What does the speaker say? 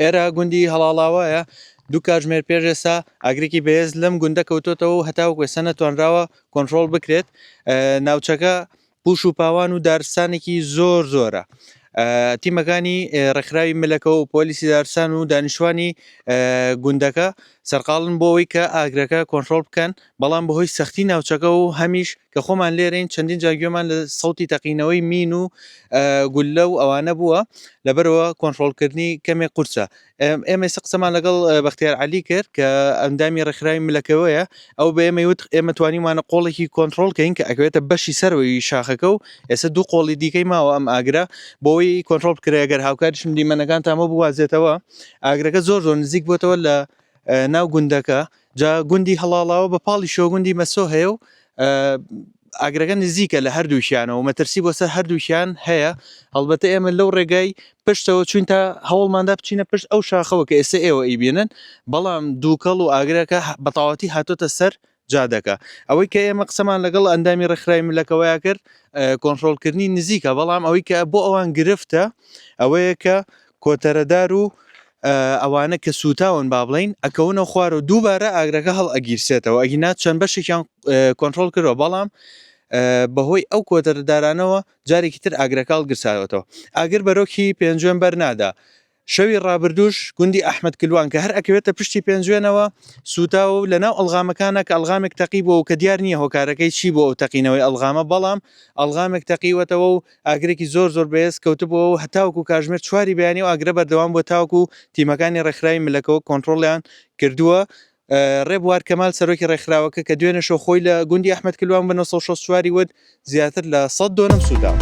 ئێرە گوندی هەڵاڵاوایە، دوو کاتژمێر پێش ئێستا ئاگرێکی بەهێز لەم گوندە کەوتۆتەوە و هەتاوەکو ئێستا نەتوانراوە کۆنتڕۆڵ بکرێت. ناوچەکە پوش و پاوان و دارستانێکی زۆر زۆرە. تیمەکانی ڕێکخراوی ملەکە و پۆلیسی دارستان و دانیشتوانی گوندەکە سەرقاڵن بۆ ئەوەی کە ئاگرەکە کۆنتڕۆڵ بکەن، بەڵام بەهۆی سەختی ناوچەکە و هەمیش کە خۆمان لێرەین چەندین جار گوێمان لە سەوتی تەقینەوەی مین و گوللە و ئەوانە بووە لەبەرەوە کۆنترۆڵکردنی کەمێک قورسە ئێمە ئێستا قسەمان لەگەڵ بەختیار علی کرد کە ئەندامی ڕێکخراوی ملەکەوەیە ئەو بە ئێمە وت ئێمە توانیمانە قۆڵێکی کۆنتترۆل کەین کە ئەگوێتە بەشی سەروەی شاخەکە و ئێستا دوو قۆڵی دیکەی ماوە ئەم ئاگرە بۆی کۆنتترۆل کرێ گەر هاوکاریشم دیمەنەکان تامە بوازێتەوە ئاگرەکە زۆر زۆر نزیک بووتەوە لە ناو گوندەکە جا گوندی هەڵاڵاوە بە پاڵی شۆگوندی مەسۆ هەیە و ئاگرەکە نزیکە لە هەردووکیانەوە و مەترسی بۆ سەر هەردووکیان هەیە هەڵبەتە ئێمە لەو ڕێگای پشتەوە چوین تا هەوڵماندا بچینە پشت ئەو شاخەوە کە ئێستا ئێوە ئیبێنن بەڵام دووکەڵ و ئاگرەکە بەتاواتی هاتۆتە سەر جادەکە ئەوەی کە ئێمە قسەمان لەگەڵ ئەندامی ڕێکخراوی ملەکەوەیا کرد کۆنتترۆلکردنی نزیکە بەڵام ئەوەی کە بۆ ئەوان گرفتە ئەوەیە کە کۆتەرەدار و ئەوانە کە سووتاون با بڵێین ئەکەونە خوار و دووبارە ئاگرەکە هەڵ ئەگیرسێتەوە ئەگینا چەند بەشێکیان کۆنتترۆل کردەوە بەڵام بەهۆی ئەو کۆتەرەدارانەوە جارێکی تر ئاگرەکەڵ گرساوەتەوە ئاگر بەرۆکی پێنجوێن بەرنادا شەوی ڕابردوش گوندی ئەحمد کلوان کە هەر ئەکەوێتە پشتی پێنجوێنەوە سوتا و لە ناو ئەلغامەکانە کە ئەلغامێک تەقی بۆ و کە دیار نییە هۆکارەکەی چی بۆ ئەو تەقینەوەی ئەلغامە بەڵام ئەلغامێک تەقیوەتەوە و ئاگرێکی زۆر زۆر بەهێز کەوتبووەوە و هەتاوەکو کاتژمێر چواری بەیانی ئەو ئاگرە بەردەوام بووە تاوەکو تیمەکانی ڕێکخراوی ملەکەوە کۆنتڕۆڵیان کردووە. ڕێبوار کەمال سەرۆکی ڕێکخراوەکە کە دوێنێ شەو خۆی لە گوندی ئەحمەد کلوان بە نۆ سەد و شەست و چوار ی وت زیاتر لە سەد دۆنم سووتاوە.